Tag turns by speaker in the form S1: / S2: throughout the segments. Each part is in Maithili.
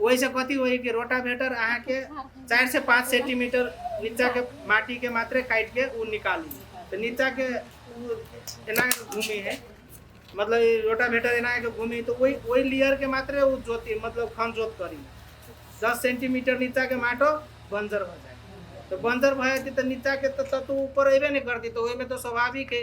S1: ओहि से कथी होई कि रोटावेटर अहाँ के चार से पाँच सेंटीमीटर नीचा के माटी के मात्रे काट के उ निकाली तो नीचा के उ एना के घूमी है मतलब ई रोटावेटर एना के घूमी तो वही वही लेयर के मात्रे उ जोती मतलब खन जोत करी दस सेंटीमीटर नीचा के माटो बंजर हो जाए तो बंजर भए तो नीचा के तो तत्व ऊपर अबे नहीं करती तो ओहिमे तो स्वाभाविक है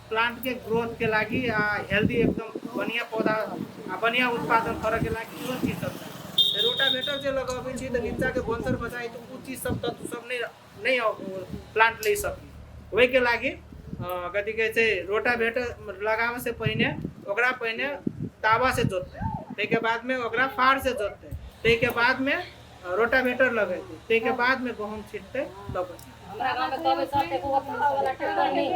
S1: प्लान्ट के ग्रोथ के लागि आ हेल्दी एकदम बढ़िया पौधा आ बढ़िया उत्पादन करे के लागि इहो चीज सब चाही रोटावेटर जे लगाबै छी तऽ नीचा के भंसर बचाई तऽ उ चीज सब तत्व सब नै नै प्लान्ट लै सकी ओहि के लागि कथी कहै छै रोटावेटर लगाबै से पहिने ओकरा पहिने तावा से जोततै ताहि के बाद में ओकरा फाड़ से जोततै ताहि के बाद में रोटावेटर लगेतै ताहि के बाद में गहूँम छिटतै तब